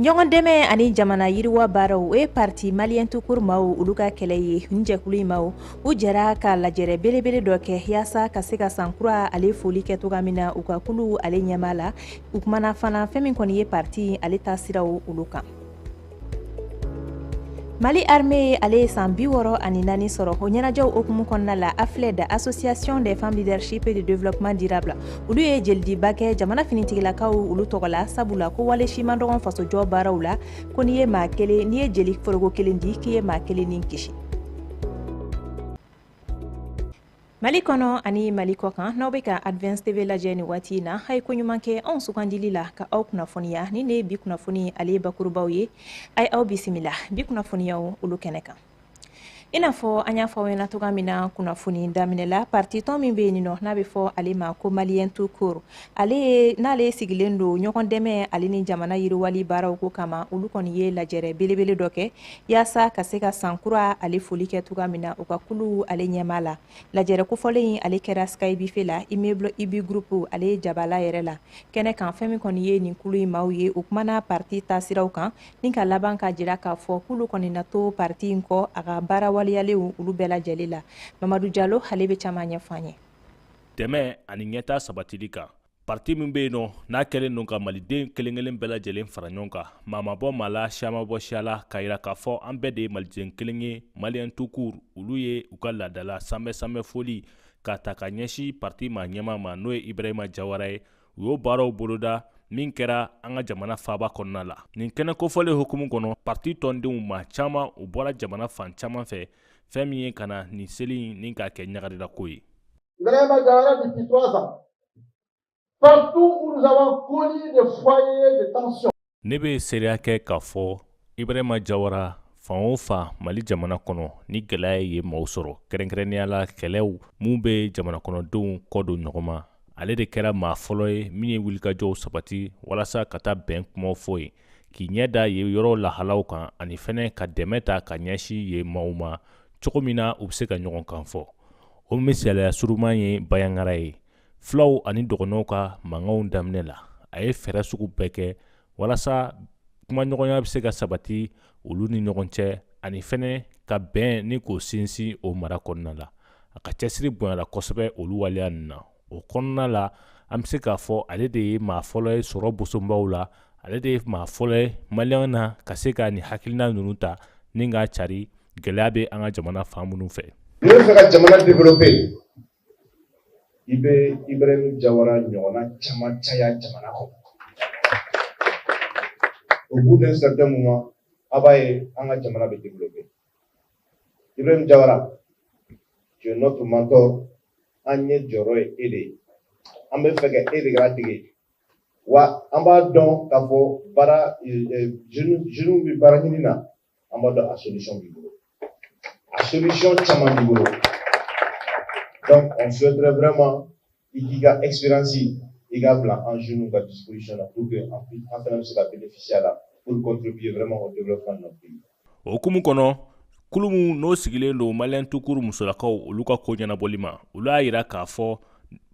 ɲɔgɔn dɛmɛ ani jamana yiriwa baaraw o ye parti Malien tout court maaw olu ka kɛlɛ ye nin jɛkulu in maaw u jɛra ka lajɛrɛ belebele dɔ kɛ yaasa ka se ka san kura ale foli kɛ toga min na u ka kulu ale ɲɛmaa la u kumana fana fɛn min kɔni ye parti ale taasiraw olu kan mali armée ye ale ye san bi wɔɔrɔ ani naani sɔrɔ o ɲɛnajɛw hukumu kɔnɔna la AFLED association des femmes leadership et de développement durable olu ye jelidiba kɛ jamana finitigilakaw olu tɔgɔ la sabula ko wale si man dɔgɔn fasojɔ baaraw la ko n'i ye maa kelen n'i ye jeli foroko kelen di k'i ye maa kelen ni kisi Mali kɔnɔ ani mali kɔ kan n'aw bɛ ka Advance TV lajɛ nin waati in na a ye ko ɲuman kɛ anw sugandili la ka aw kunnafoniya ni nin bi kunnafoni ale bakurubaw ye a ye aw bisimila bi kunnafoniyaw olu kɛnɛ kan i n'a fɔ an y'a fɔ aw ɲɛna toga min na kunnafoni daminɛ la parti tɔn min bɛ yen nin nɔ n'a bɛ fɔ ale ma ko Malien tout court n'ale sigilen don ɲɔgɔn dɛmɛ ale ni jamana yiriwali baaraw ko kama olu kɔni ye lajɛrɛ belebele dɔ kɛ yaasa ka se ka san kura ale foli kɛ toga min na u ka kulu ale ɲɛmaa la lajɛrɛ kofɔlen in ale kɛra skybife la immeuble IBI groupe ale jabala yɛrɛ la kɛnɛ kan fɛn min kɔni ye nin kulu in maaw ye u kumana parti taasiraw kan ni ka laban k'a jira k'a fɔ kulu kɔni na to parti in kɔ a ka baara waleyalenw olu bɛɛ lajɛlen la mamadu jalo ale bɛ caman ɲɛfɔ an ye dɛmɛ ani ɲɛta sabatili kan Parti min bɛ yen nɔ n'a kɛlen don ka maliden kelenkelen bɛɛ lajɛlen fara ɲɔgɔn kan maa ma bɔ maa la siya ma bɔ siya la k'a yira k'a fɔ an bɛɛ de ye maliden kelen ye Malien tout court olu ye u ka laadala sanbɛ sanbɛ foli k'a ta ka ɲɛsin parti maa ɲɛmaa ma n'o ye Ibrahima Jawara ye u y'o baaraw boloda min kɛra an ka jamana faaba kɔnɔna la nin kɛnɛ kofɔlen hukumu kɔnɔ parti tɔndenw maa caman u bɔra jamana fan caman fɛ fɛn min ye ka na nin seli nin k'a kɛ ɲagarilako ye Partout où nous avons connu des foyers de tension. Ne bɛ seereya kɛ k'a fɔ Ibrahima Jawara fan o fan Mali jamana kɔnɔ ni gɛlɛya ye maaw sɔrɔ kɛrɛnkɛrɛnnenya la kɛlɛw min bɛ jamana kɔnɔ denw kɔ don ɲɔgɔn ma ale de kɛra maa fɔlɔ ye min ye wulikajɔw sabati walasa ka taa bɛn kumaw fɔ yen k'i ɲɛ da yen yɔrɔw lahalaw kan ani fɛnɛ ka dɛmɛ ta ka ɲɛsin yen maaw ma cogo min na u bɛ se ka ɲɔgɔn kan fɔ o misaliya surunman ye bayangara ye fulaw ani dɔgɔnɔw ka mankanw daminɛ la a ye fɛɛrɛ sugu bɛɛ kɛ walasa kumaɲɔgɔnya bɛ se ka sabati olu ni ɲɔgɔn cɛ ani fɛnɛ ka bɛn ni k'o sinsin o mara kɔnɔna la a ka cɛsiri bonyala kosɛbɛ olu waleya na o kɔnɔna la an bɛ se k'a fɔ ale de ye maa fɔlɔ ye sɔrɔ bosobaw la ale de ye maa fɔlɔ ye malien na ka se ka nin hakilina ninnu ta ni k'a cari gɛlɛya bɛ an ka jamana fan minnu fɛ n'i b'a fɛ ka jamana développer i bɛ ibrahima jawara ɲɔgɔnna caman caya jamana kɔnɔ au bout d'un certain moment a b'a ye an ka jamana bɛ développer ibrahima jawara tu es notre mentor an ɲɛ jɔyɔrɔ ye e de ye an bɛ fɛ ka e de ladege wa an b'a dɔn k'a fɔ baara jeunes bɛ baara ɲini na an b'a dɔn a solution b'i bolo a solution caman b'i bolo donc on souhaiterait vraiment i k'i ka expérience i k'a bila an jeunes ka disposition na pour que an fana bɛ se ka bénéficier a la pour contribuer vraiment au développement de notre pays o hukumu kɔnɔ kulu min n'o sigilen don malien tout court musolakaw olu ka ko ɲɛnabɔli ma olu y'a yira k'a fɔ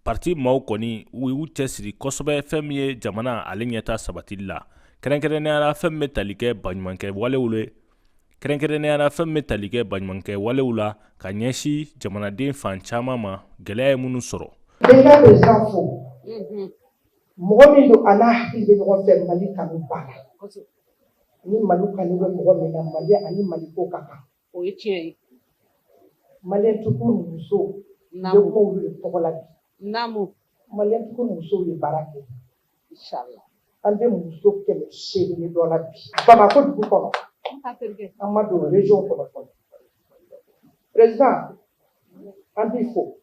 parti maaw kɔni u y'u cɛsiri kosɛbɛ fɛn min ye jamana ale ɲɛta sabatili la kɛrɛnkɛrɛnnenya la fɛn min bɛ tali kɛ baɲumankɛ walew la kɛrɛnkɛrɛnnenya la fɛn min bɛ tali kɛ baɲumankɛ walew la ka ɲɛsin jamanaden fan caman ma gɛlɛya ye minnu sɔrɔ. Déjà déjà fo mɔgɔ min don a n'a hakili bɛ ɲɔgɔn fɛ Mali kanu b'a la. ni mali kanu bɛ mɔgɔ min na mali ani mali ko ka kan o ye tiɲɛ ye malien tout court musow ne kuma olu de tɔgɔ la bi naamu malien tout court musow ye baara kɛ inshallah an bɛ muso kɛmɛ seegin ni dɔ la bi bamakɔ dugu kɔnɔ an ma don region kɔnɔ fɔlɔ président an b'i fo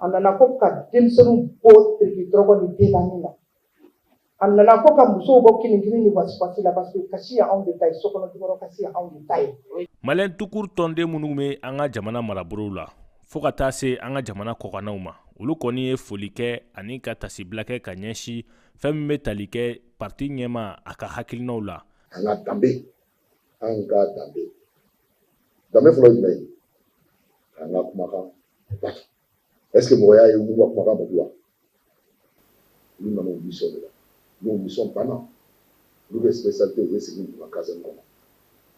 a nana ko ka denmisɛnninw bɔ tiriki dɔrɔgu ni denani la a nana ko ka musow bɔ kinikini ni wasifasi la parce que kasi ye anw de ta ye sokɔnɔ jukɔrɔ kasi ye anw de ta ye malien tout court tɔnden minnu bɛ an ka jamana marabolow la fo ka taa se an ka jamana kɔkannaw ma olu kɔni ye foli kɛ ani ka tasibila kɛ ka ɲɛsin fɛn min bɛ tali kɛ parti ɲɛmaa a ka hakilinaw la an ka danbe an ka danbe danbe fɔlɔ ye jumɛn ye k'an ka kumakan bato est-ce que mɔgɔ y'a ye u b'u ka kumakan bato wa olu nana u mission de la n'u mission banna olu bɛ spécialité u bɛ segin u ka caserne kɔnɔ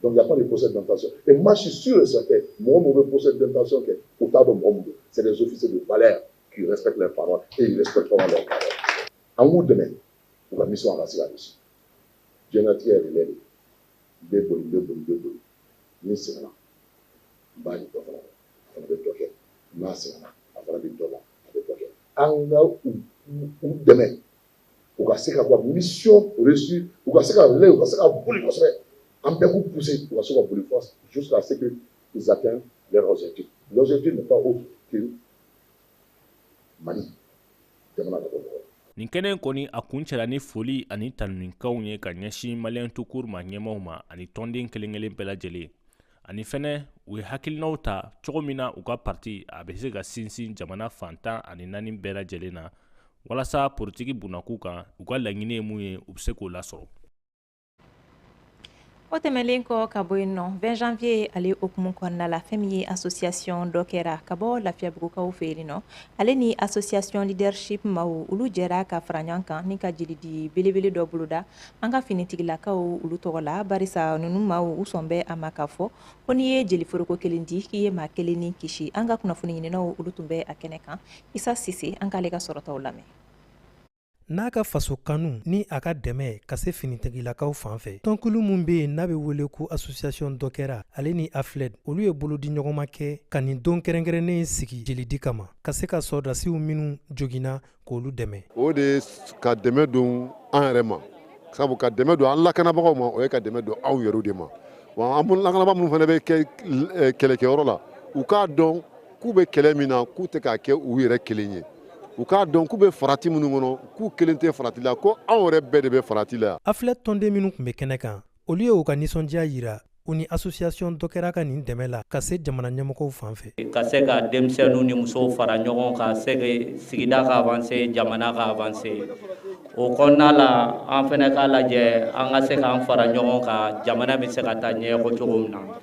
donc il y a pas de procès d'intention et moi je suis sûr et certain mɔgɔ minnu bɛ procès d'intention kɛ u t'a dɔn mɔgɔ minnu c'est des officiers de valeur qui respectent leurs paroles et ils respecteront leurs paroles an k'u dɛmɛ u ka mission a ka se ka réussir diɲɛlatigɛ ye relais de bɛ boli bɛ boli bɛ boli ni n sɛgɛnna n b'a di dɔ fana ma a fana bɛ dɔ kɛ n'a sɛgɛnna a fana bɛ dɔ la a bɛ dɔ kɛ an ka u u dɛmɛ u ka se ka bɔ mission réussie u ka se ka lɛ u ka se ka boli kosɛbɛ an bɛɛ k'u pousser u ka se ka boli fo jusqu'à ce que ils atteignent leur objectif l'objectif n'est pas autre que Mali nin kɛnɛ kɔni a kuncɛra ni foli ani tanunikanw ye ka ɲɛsin malien tout court ma ɲɛmaaw ma ani tɔnden kelen kelen bɛɛ lajɛlen ani fɛnɛ u ye hakilinaw ta cogo min na u ka parti a bɛ se ka sinsin jamana fan tan ani naani bɛɛ lajɛlen na walasa politiki bunakun kan u ka laɲini ye mun ye u bɛ se k'o lasɔrɔ o tɛmɛnlen kɔ ka bɔ yen nɔ 20 janvier ale o hukumu kɔnɔna la fɛn min ye association dɔkɛra ka bɔ lafiyabugukaw fɛ yen nɔ ale ni association leadership maaw olu jɛra ka fara ɲɔgɔn kan ni ka jelidi belebele dɔ boloda an ka finitigilakaw olu tɔgɔ la barisa ninnu maaw u sɔn bɛ a ma k'a fɔ ko n'i ye jeliforoko kelen di k'i ye maa kelen ni kisi an ka kunnafoni ɲininaw olu tun bɛ a kɛnɛ kan isa sise an k'ale ka sɔrɔtaw lamɛn n'a ka faso kanu ni a ka dɛmɛ ka se finitigilakaw fan fɛ tɔnkulu min be yen n'a be wele ko association dɔkɛra ale ni afled olu ye bolodiɲɔgɔnma kɛ ka nin don kɛrɛnkɛrɛnnen sigi jelidi kama ka se ka sɔrɔdasiw minw joginna k'olu dɛmɛ o de ye ka dɛmɛ don an yɛrɛ ma sabu ka dɛmɛ don an lakanabagaw ma o ye ka dɛmɛ don anw yɛrɛw de ma wa an lakanabagaw minnu fana bɛ kɛ kɛlɛkɛyɔrɔ la u k'a dɔn k'u bɛ kɛlɛ min na k'u tɛ k'a kɛ u yɛrɛ kelen ye u k'a dɔn k'u bɛ farati minnu kɔnɔ k'u kelen tɛ farati la ko anw yɛrɛ bɛɛ de bɛ farati la afled tɔnden minnu tun bɛ kɛnɛ kan olu ye u ka nisɔndiya yira u ni association dɔkɛra ka nin dɛmɛ la ka se jamana ɲɛmɔgɔw fan fɛ ka se ka denmisɛnninw ni musow fara ɲɔgɔn kan se sigida ka avancer jamana ka avancer o kɔnɔna la an fɛnɛ k'a lajɛ an ka se k'an fara ɲɔgɔn kan jamana bɛ se ka taa ɲɛ ko cogo min na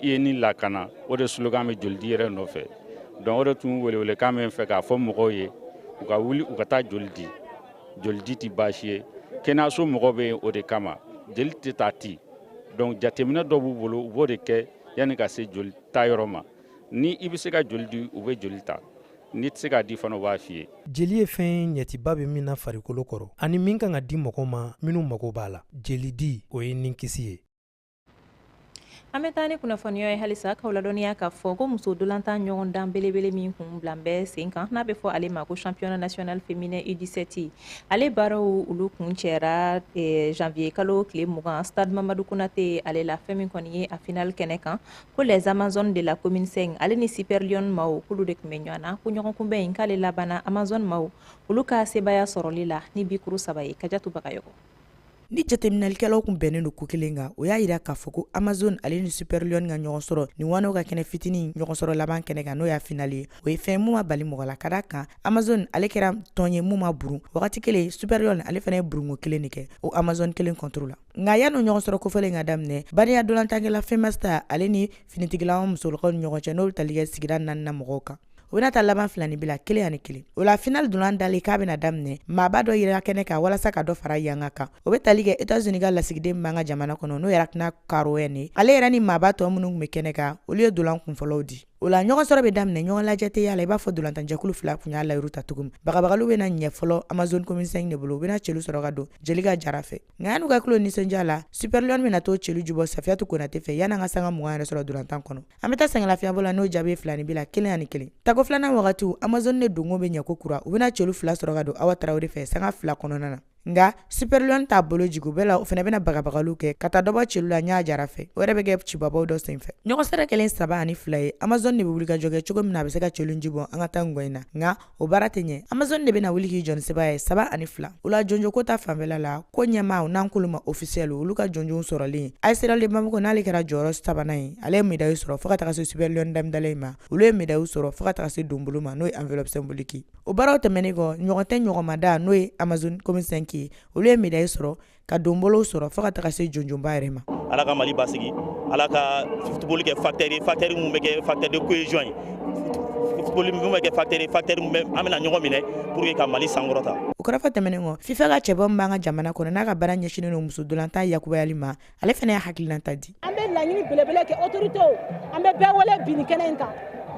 i ye ni lakana o de slogan bɛ jolidi yɛrɛ nɔfɛ donc o de tun welewelekan bɛ n fɛ k'a fɔ mɔgɔw ye u ka wuli u ka taa joli di jolidi tɛ baasi ye kɛnɛyaso mɔgɔw bɛ yen o de kama jeli tɛ ta ten donc jateminɛ dɔ b'u bolo u b'o de kɛ yanni ka se joli ta yɔrɔ ma ni i bɛ se ka joli di u bɛ joli ta n'i tɛ se k'a di fana u b'a f'i ye jeli ye fɛn ye ɲɛciba bɛ min na farikolo kɔrɔ ani min kan ka di mɔgɔw ma minnu mago b'a la jelidi o ye ninkisi ye an bɛ taa ni kunnafoniw ye halisa k'aw ladɔnniya k'a fɔ ko muso ntolatan ɲɔgɔndan belebele min tun bilalen bɛ sen kan n'a bɛ fɔ ale ma ko championnat national féminin u17 ale baaraw olu kuncɛra eh, janvier kalo tile mugan stade mamadu konate ale la fɛn min kɔni ye a final kɛnɛ kan ko les amazones de la commune 5 ale ni super lionnes maaw k'olu de tun bɛ ɲɔgɔn na ko ɲɔgɔnkunbɛn in k'ale labanna amazone maaw olu ka sebaaya sɔrɔli la ni bikuru saba ye kajatu bagayɔgɔ ni jateminɛlikɛlaw kun bɛnnen don ko kelen kan o y'a yira k'a fɔ ko amazon ale ni superlion ka ɲɔgɔn sɔrɔ nin ŋanaw ka kɛnɛ fitinin ɲɔgɔn sɔrɔ laban kɛnɛ kan n'o y'a finali ye o ye fɛn mun ma bali mɔgɔ la ka da kan amazon ale kɛra tɔn ye mun ma burun wagati kelen superlion ale fana ye burunko kelen de kɛ o amazon kelen kɔntoro la nka yanni o ɲɔgɔn sɔrɔ kofɔlen ka daminɛ bariya dolantankɛla femasta ale ni finitigilama musolakaw ni ɲɔgɔn cɛ n'o bɛ tali kɛ sigida naaninan mɔgɔw kan o bɛna taa laban filanin bila kelen ani kelen o la final dolan dalen k'a bɛna daminɛ maaba dɔ yira kɛnɛ kan walasa ka dɔ fara yanga kan o bɛ tali kɛ etats unis ka lasigiden min b'an ka jamana kɔnɔ n'o ye rachna korhonen ye ale yɛrɛ ni maaba tɔ minnu tun bɛ kɛnɛ kan olu ye dolan kunfɔlɔw di o la ɲɔgɔn sɔrɔ bɛ daminɛ ɲɔgɔn lajɛ tɛ y'a la i b'a fɔ dolantanjɛkulu fila kun y'a layiru ta cogo min bagabagaliw bɛna ɲɛ fɔlɔ amazon commune cinq de bolo u bɛna celu sɔrɔ ka don jelika jara fɛ nka yan'u ka kulo nisɔndiya la superlion bɛna t'o celu jubɔ safiyatu konate fɛ yan'an ka sanga mugan yɛrɛ sɔrɔ dolantan kɔnɔ an bɛ taa sɛngɛlafiyabɔ la n'o jaabi ye filanin bila kelen ani kelen tako filanan wagati amazon ne donko bɛ ɲɛ ko kura u bɛna celu fila sɔrɔ ka don awa tarawele fɛ sanga fila kɔnɔna na nga superlion t'a bolo jigi bɛɛ la o fana bɛna bagabagaliw kɛ ka taa dɔbɔ celu la ɲa jara fɛ o yɛrɛ bɛ kɛ cibabaw dɔ senfɛ ɲɔgɔn sɔrɔ kɛlen saba ani fila ye amazon de bɛ wulikajɔ kɛ cogo min na a bɛ se ka celu jubɔ an ka taa ngɔ in na nga o baara tɛ ɲɛ amazon de bɛna wuli k'i jɔ ni sebaaya ye saba ani fila o la jɔnjɔnko ta fanfɛla la ko ɲɛmaaw n'an k'olu ma ofisiyɛli olu ka jɔnjɔnw sɔrɔlen as real de bamako n'ale kɛra jɔyɔrɔ sabanan ye ale ye medayi sɔrɔ fo ka taga se superlion d'hamdallaye ma olu ye medayiw sɔrɔ fo ka taga se donbolo ma n'o ye enveloppe symbolique o baaraw tɛmɛnen kɔ ɲɔgɔn tɛ ɲɔgɔnmada n'o ye amazon commune cinq ye olu ye medayi sɔrɔ ka donbolow sɔrɔ fo ka taga se jɔnjɔnba yɛrɛ ma ala ka mali basigi ala ka futuboli kɛ facteur ye facteur min bɛ kɛ facteur de cohésion ye futuboli min bɛ kɛ facteur ye facteur min bɛ an bɛna ɲɔgɔn minɛ pour que ka mali sankɔrɔta o kɔrɔfɔ tɛmɛnen kɔ fifa ka cɛbɔ min b'an ka jamana kɔnɔ n'a ka baara ɲɛsinnen don muso dolantan yakubayali ma ale fana ye hakilinata di an bɛ laɲini belebele kɛ otoritew an bɛ bɛɛ wele bi nin kɛnɛ in kan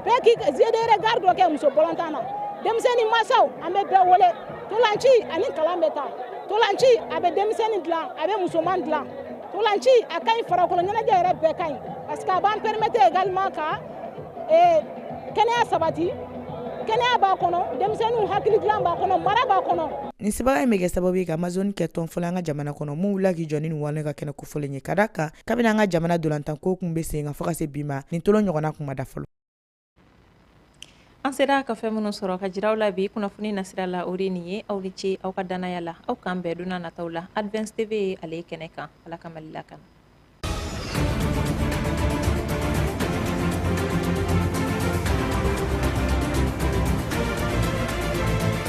bɛɛ k'i jet de regard dɔ kɛ muso balɔntan na denmisɛnnin masaw an bɛ bɛɛ wele tolanci ani kalan bɛ taa tolanci a bɛ denmisɛnnin dilan a bɛ musoman dilan tolanci a ka ɲi farakolo ɲɛnajɛ yɛrɛ bɛɛ ka ɲi parce que a b'an permettre également ka eh, kɛnɛya sabati kɛnɛya b'a kɔnɔ denmisɛnninw hakili dilan b'a kɔnɔ mara b'a kɔnɔ nin sebaaya in bɛ kɛ sababu ye ka amazoni kɛ tɔn fɔlɔ an ka jamana kɔnɔ min wulila k'i jɔ ni nin ŋanaw ka kɛnɛ ko fɔlen ye ka da kan kabini an ka jamana dolantanko tun bɛ sen kan fo ka se bi ma nin tolon ɲɔgɔnna kun ma da fɔlɔ an sera ka fɛn minnu sɔrɔ ka jira aw la bi kunnafoni nasira la o de nin ye aw ni ce aw ka dannaya la aw k'an bɛn donna nataw la advance tv ye ale kɛnɛ kan ala ka mali lakana